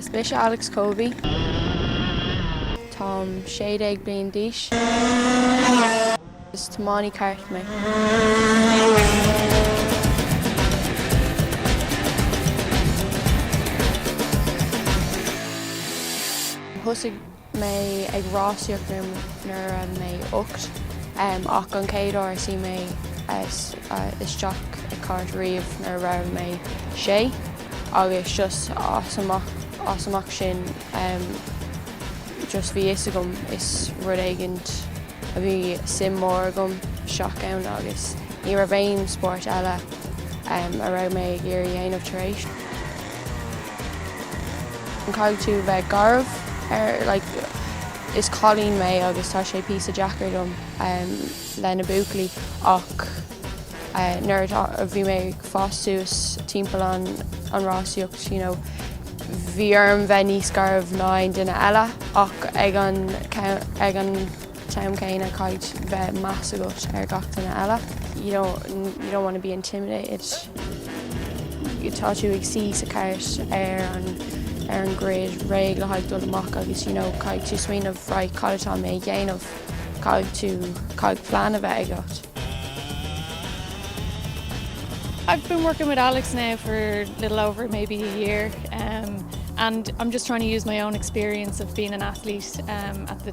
Is mise Alex Covey. Táim sé bliana déag d'aois. Is tiománaí cairt mé. mé ag rásaíocht nuair a bhí mé ocht ach an chéad uair a shuigh mé isteach i cairt riamh nuair a raibh mé sé agus just as amach sin just bhí fhios agam is rud éigint a bhí suim mór agam isteach ann agus ní raibh aon spóirt eile a raibh mé ag iarraidh dhéanamh tar éis. An gcaithfidh tú bheith garbh? Er like is cailín mé agus tá sé píosa deacair dom le na buachaillí ach nuair atá, bhí mé ag fás suas timpeall an an rásaíocht you know bhí orm bheith níos garbh ná aon duine eile ach ag an ag an t-am céanna caithfidh bheith meas agat ar gach duine eile you know you don't want to be intimidated tá tú ag suí sa chairt ar an ar an grid réidh le haghaidh dul amach agus caithfidh tú smaoineamh right cad atá mé a dhéanamh caithfidh tú caithfidh plean a bheith agat. I've been working with Alex now for a little over maybe a year um, and I'm just trying to use my own experience of being an athlete um, at the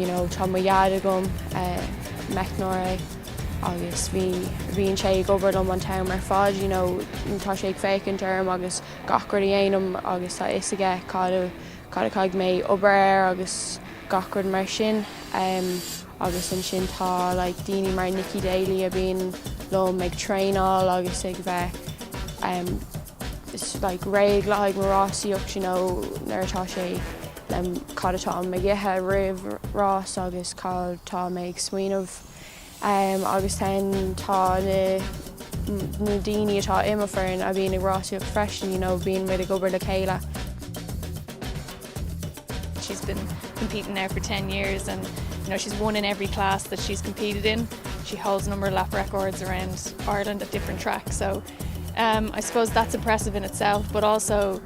you know tá mo dhaid agam, meicneoir agus bhí, bhíonn sé ag obair liom an t-am ar fad, you know tá sé ag féachaint orm agus gach rud a dhéanaim agus tá a fhios aige cad a, cad a chaithfidh mé obair air agus gach rud mar sin. Agus ansin tá like daoine mar Nikki Daly a bhíonn liom ag traenáil agus ag bheith like réidh le haghaidh mo rásaíocht you know nuair atá sé, Cad atá mé ag ithe roimh rás agus cad tá mé ag smaoineamh agus then tá na na daoine atá i mo foireann a bhíonn ag rásaíocht freisin you know bíonn muid ag obair le chéile. She's been competing now for 10 years and you know she's won in every class that she's competed in. She holds a number of lap records around Ireland at different tracks so um, I suppose that's impressive in itself but also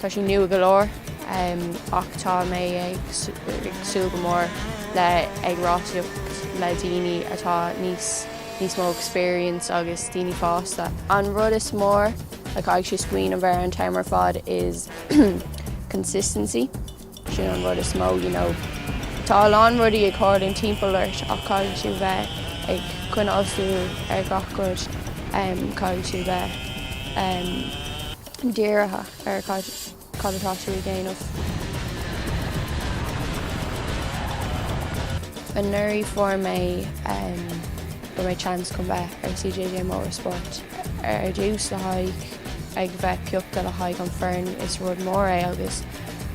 Tá sé nua go leor ach tá mé ag súil go mór le ag rásaíocht le daoine atá níos níos mó experience agus daoine fásta. An rud is mór a chaithfidh mé smaoineamh ar an t-am ar fad is consistency. Sin an rud is mó, you know. Tá a lán rudaí ag tharlú timpeall ort ach caithfidh tú bheith ag coinneáil súil ar gach rud. Caithfidh tú bheith dírithe ar cad atá tú ag déanamh. Anuraidh fuair mé, fuair mé chance chun bheith ar CJJ Motorsport ar dtús le haghaidh. ag bheith piochta le haghaidh an foireann is rud mór é agus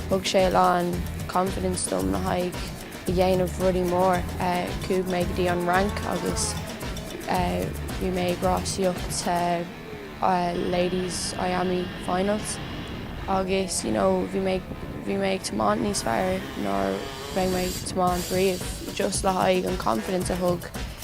thug sé a lán confidence dom le haghaidh a dhéanamh rudaí mór. Chuaigh mé go dtí an Fhrainc agus bhí mé ag rásaíocht sa ladies IAME finals agus you know bhí mé bhí mé ag tiomáint níos fearr ná a bhí mé ag tiomáint riamh just le haghaidh an confidence a thug